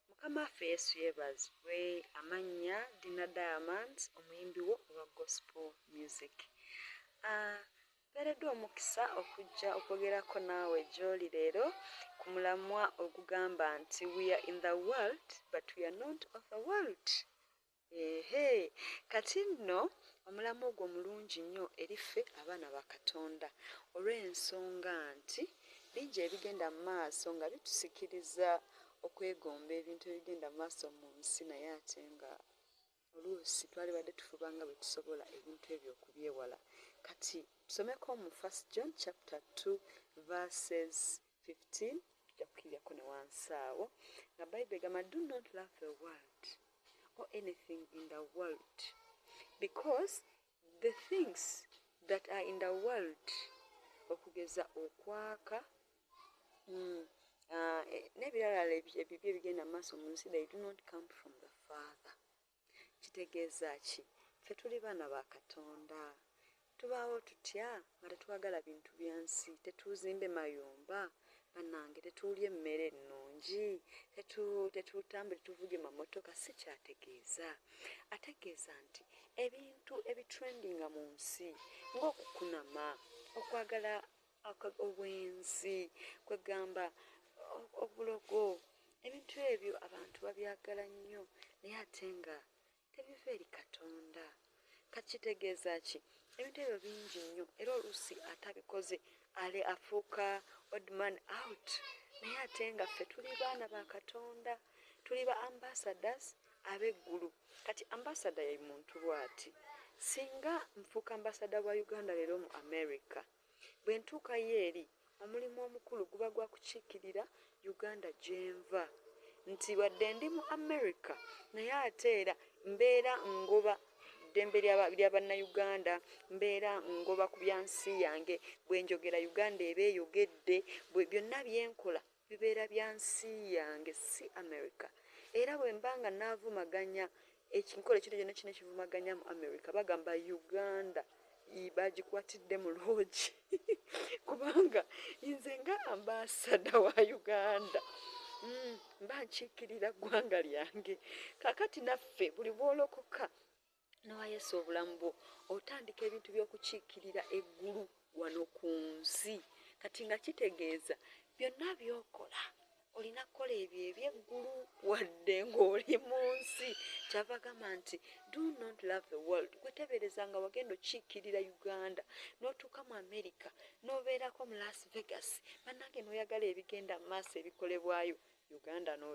Mukama waffe Yesu yebazibwe amannya Dina Diamonds omuyimbi wo owa gospel music ah, mpeereddwa omukisa okujja okwogerako naawe gy'oli leero ku mulamwa ogugamba nti we are in the world but we are not of the world Eehe! Kati nno, omulamwa ogwo mulungi nnyo eri ffe abaana ba Katonda, olw'ensonga nti bingi ebigenda mu maaso nga bitusikiriza okwegomba ebintu ebigenda mu maaso mu nsi, naye ate nga oluusi twalibadde tufuba nga bwe tusobola ebintu ebyo okubyewala. Kati tusomeko mu First John chapter two verses 15 ojja kukiryako ne wansi awo nga bible egamba do not love the world or anything in the world because the things that are in the world okugeza okwaka mm, uh, nebiralala ebibi ebigenda maaso mu nsi they do not come from the father Kitegeeza ki? Ffe tuli baana ba Katonda. Tubaawo tutya nga tetwagala bintu bya nsi? Tetuuzimbe mayumba, bannange, tetuulye mmere nnungi, tetu, tetutambule tuvuge mamotoka. Si ky'ategeeza. Ategeeza nti ebintu ebitrendinga mu nsi, ng'okukunama, okwagala Ako obwenzi, kwegamba obulogo, ebintu ebyo abantu babyagala nnyo naye ate nga tebiva eri Katonda. Kati kitegeeza ki? Ebintu ebyo bingi nnyo era oluusi atabikoze ale afuuka odd man out naye ate nga ffe tuli baana ba Katonda, tuli ba ambassadors ab'eggulu. Kati ambassador ye muntu bwati, singa nfuuka ambassador wa Uganda leero mu America, Bwe ntuukayo eri, omulimu omukulu guba gwa kukiikirira Uganda gye nva. Nti wadde ndi mu Amerika naye ate era mbeera ngoba ddembe lya Bannayuganda, mbeera ngoba ku bya nsi yange. Bwe njogera Uganda eba eyogedde, byonna bye nkola bibeera bya nsi yange si America era bwemba nga navumaganya ekikolo ekintu kyona ekirina ekivumaganya mu America bagamba Uganda yii bagikwatidde mu loogi kubanga nze nga ambasada wa Uganda mm, mba nkiikirira ggwanga lyange kakati naffe buli bwolokoka Nowa Yesu obulamu bwo otandika ebintu by'okukiikirira eggulu wano ku nsi kati nga kitegeeza byonna by'okola olina kukola ebyo ebyeggulu wadde ng'oli mu nsi kyava gamba nti do not love the world gwetebereza nga wagenda okiikirira uganda n'otuuka mu america n'obeerako mu las vegas bannange n'oyagala ebigenda mu maaso ebikolebwayo uganda no